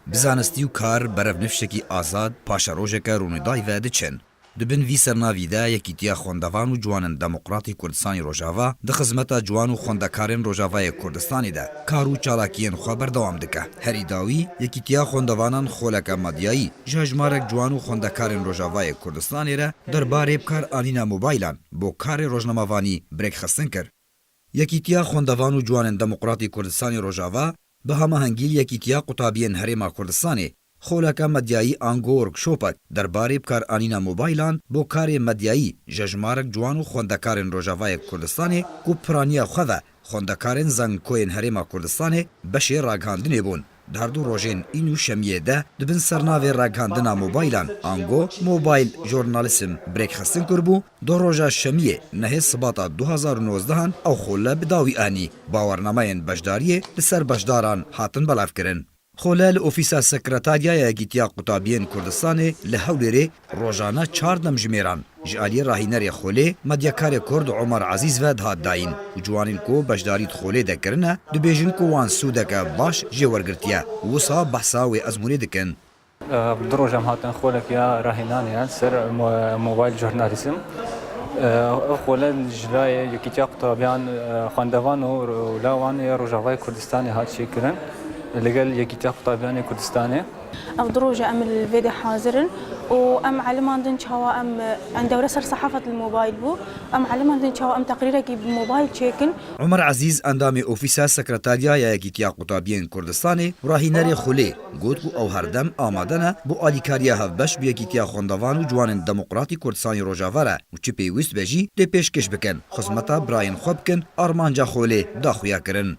Bi zanistî û kar, berevnifşekî azad, paşerojeke rûnidayî ve diçin. Di bin vî sernavî de Yekîtiya Xwendevan û Ciwanin Demokrat ê Kurdistanê Rojava di xizmeta ciwan û xwendekarên Rojavayê Kurdistanê de kar û çalakiyên xwe berdewam dike. Herî dawî, Yekîtiya Xwendevanan xoleke medyayî ji hejmarek ciwan û xwendekarên Rojavayê Kurdistanê re derbarê bikaranîna mobaylan bo karê rojnamevanî bi rêkxistin kir. Yekîtiya Xwendevan û Ciwanên Demokratî Kurdistanê Rojava bi hamahengî Yekîtiya Qutabiyên Herêma Kurdistanê xoleke medyayî ango workshopek derbarê bikaranîna mobaylan bo karê medyayî jejmarek ciwan û xwendekarên Rojavayê Kurdistanê ku piraniya xwe ve xwendekarên zankoyên Herêma Kurdistanê beşê ragihandinê bûn. Dar du rojên în û şemiyê de di bin sernavê ragihandina mobaylan ango Mobile Journalism birêkxistin kiribû, du roja şemiyê nehê sibata du hezar û nozdeh an ew xole bi dawî anî. Bawernamayên beşdariyê li ser beşdaran hatin belavkirin. Xole li ofîsa Sekretarya Yekîtiya Qutabiyên Kurdistanê li Hewlêrê Rojane çar demjimêran ji aliyê rahînerê Xolê, medyakarê Kurd Omar Ezîz ve dihat dayîn û ciwanên ku beşdarî di Xolê de kirine dibêjin ku wan sûdeke baş jê wergirtiye û wisa behsa wê ezmûnê dikin. Du roj em hatin Xolek ya rahînanê ya ser Mobile Journalism. Ev xole ji layê Yekîtiya Qutabiyan, Xwendevan û Lawan ya Rojavayê Kurdistanê hat çêkirin li gel Yekîtiya Qutabiyanê Kurdistanê. Ev du roj e em li vê de hazir in û em eliman din çawa em em dewre ser sehafet li mobayl bû em eliman din çawa em teqrîrekî bi mobayl çêkin. Omer Ezîz endamê ofîsa sekreterya ya Yekîtiya Qutabiyên Kurdistanê û rahînerê Xulê got ku ew herdem amade ne bo alîkariya hevbeş bi Yekîtiya Xwendevan û Ciwanên Demokratîk Kurdistanê Rojava re û çi pêwîst be jî tê pêşkêş bikin xizmeta birayên xwe bikin armanca Xulê da xuya kirin.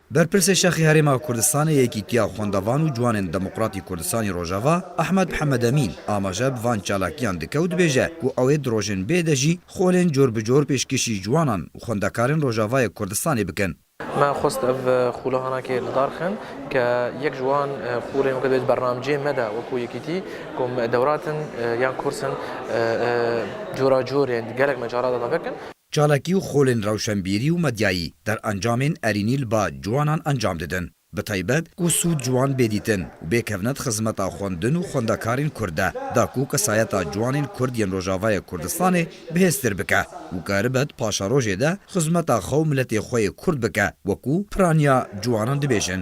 Berpirsê Şexê Herêma Kurdistanê Yekîtiya Xwendevan û Ciwanên Demokratî Kurdistanî Rojava Ehmed Mihemed Emîn amaje bi van çalakiyan dike û dibêje ku ew ê di rojên bê de jî xolên cor bi cor pêşkêşî ciwanan û xwendekarên Rojavayê Kurdistanê bikin. Me xwest ev xûlehanakê li dar xin ke yek ji wan xolên weke divê di bernamceyên me de wekû Yekîtî kom dewratin yan kurs in cora cor yên di gelek me caran de vekin. Çalakî û xolên rewşenbîrî û medyayî derencamên erînî li ba ciwanan encam didin, bi taybet ku sûd ji wan bê dîtin û bêkevne di xizmeta xwendin û xwendekarên Kurd de, da ku kesayeta ciwanên Kurd yên Rojavayê Kurdistanê bihêztir bike û karibe di paşerojê de xizmeta xwe û miletê xwe yê Kurd bike wekû piraniya ciwanan dibêjin.